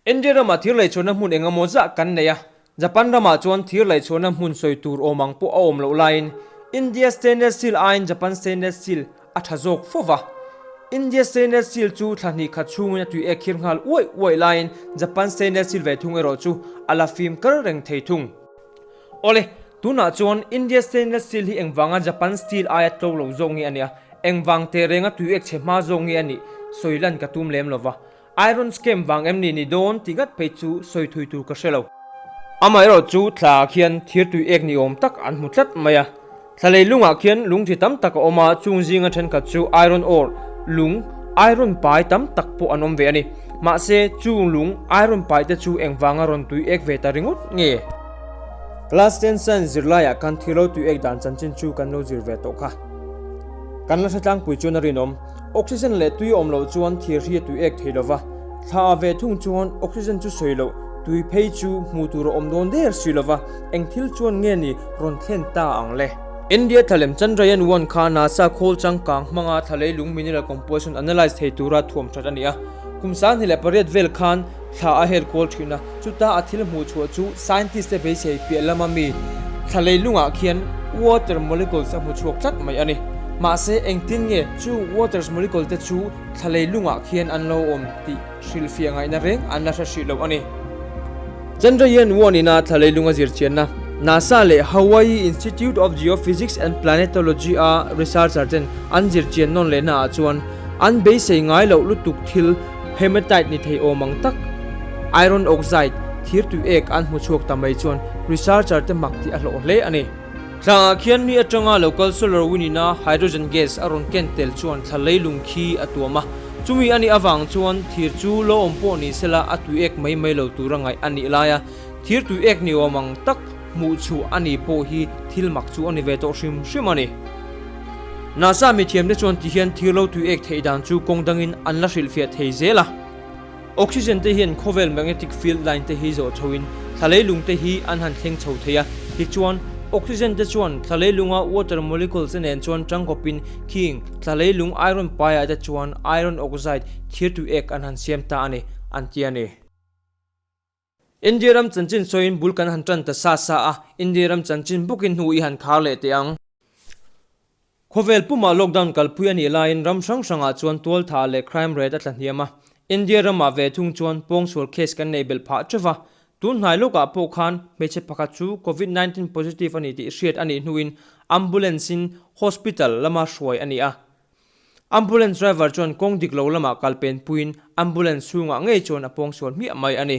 India rama thir laihchhuahna hmun engemaw zah kan neih a, Japan ramah chuan thir laihchhuahna hmun sawi tur awm ang pawh a awm loh laiin India stainless steel aiin Japan stainless steel A tha zawk fo va. India stainless steel chu thla hnikkhat chhungin a tui e khir nghal uaih uaih laiin Japan stainless steel vei thung erawh chu a la fim kal reng thei thung. Awle, tunah chuan India stainless steel hi engvanga Japan steel aia tlo lo zawk nge a nia, engvang tehreng a tui ek chhe hma zawk nge a nih sawi lan ka tum lem lo va. Iron scam vang em ni ni dawn ti ngat phei chu sawi thui tur ka hre lo. Amaherawh chu thla ah khian thir tui ek ni awm tak an hmu tlat mai a. Thla lei lung ah khian lung ṭhi tam tak a awm a, chung zinga ṭhenkhat chu iron ore, lung, iron pai tam tak pawh an awm ve a ni. Mahse chu lung, iron pai te chu eng vanga rawn tui ek ve ta ringawt nge? Class ten science zir lai ah kan thir lo tui ek dan chanchin chu kan lo zir ve tawh kha. Kan la hre tlangpui chuan a rinawm. Oxygen leh tui awm loh chuan thir hi a tui ek thei lova, thla a ve thung chuan oxygen chu sawi loh tui phei chu hmuh tur a awm dawn der si lova, eng thil chuan nge ni rawn thlen ta ang le? India thlalem Chandrayaan one kha nasa khawl changkang hmanga thla lei lung mineral composition analyse thei tura thuam that a ni a, kum sanghnih leh pariat vel khan, Thla a hel kual thin a, chuta a thil hmuh chhuah chu scientist te beisei piah lama mi thla leilungah khian water molecules a hmu chhuak tlat mai a ni. Mahse, engtin nge chu waters molecule te chu thla leilungah khian an lo awm tih hrilhfiah ngaihna reng an la hre hrih loh a ni. Chandrayaan one ina thla leilunga zirchianna NASA leh Hawaii Institute of Geophysics and Planetology a researcher ten an zirchian nawn lehnaah chuan an beisei ngai loh lutuk thil, Hematite ni thei awm ang tak, iron oxide, thir tui ek an hmu chhuak ta mai chuan researcher te hmak tih a hlawh hle a ni. Tlangah khian mi atanga lo kal SolarWind ina hydrogen gas a rawn ken tel chuan thla lei lung khi a tuam a. Chumi a nih avang chuan thir chu lo awm pawh ni sela a tui ek mai mai lo tura ngaih a nih lai a, thir tui ek ni awm ang tak. Hmuh chhuh a nih pawh hi thil mak chu a ni ve tawh hrim hrim a ni. Nasa mi thiamte chuan tihian thir lo tui ek theih dan chu kawng dangin an la hrilh fiah thei zel a. Oxygen te hian khawvel magnetic field line te hi zawh chhoin thlalei lung te hi an han thleng chho thei a, tichuan, oxygen te chuan thlalei lunga water molecules-a nen chuan tangkawpin khing, thlalei lung iron paiah te chuan iron oxide thir tui ek an han siam ta a ni, an ti a ni. India ram chanchin sawiin bul kan han tan ta sa sa a, India ram chanchin bukin hnu i han khar leh teh ang. Khawvel pumah lockdown kalpui a nih laiin ram hrang hrangah chuan tualtha leh crime rate a tla hniam a. India ramah ve thung chuan pawngsual case kan nei belh phah teuh va, tun hnai lawkah pawh khan hmeichhe pakhat chu Covid nineteen positive a ni tih hriat a nih hnuin ambulance-in hospital lama hruai a ni a. Ambulance driver chuan kawng dik lo lamah kal pen puiin ambulance chhungah ngei chuan a pawng sual hmiah mai a ni.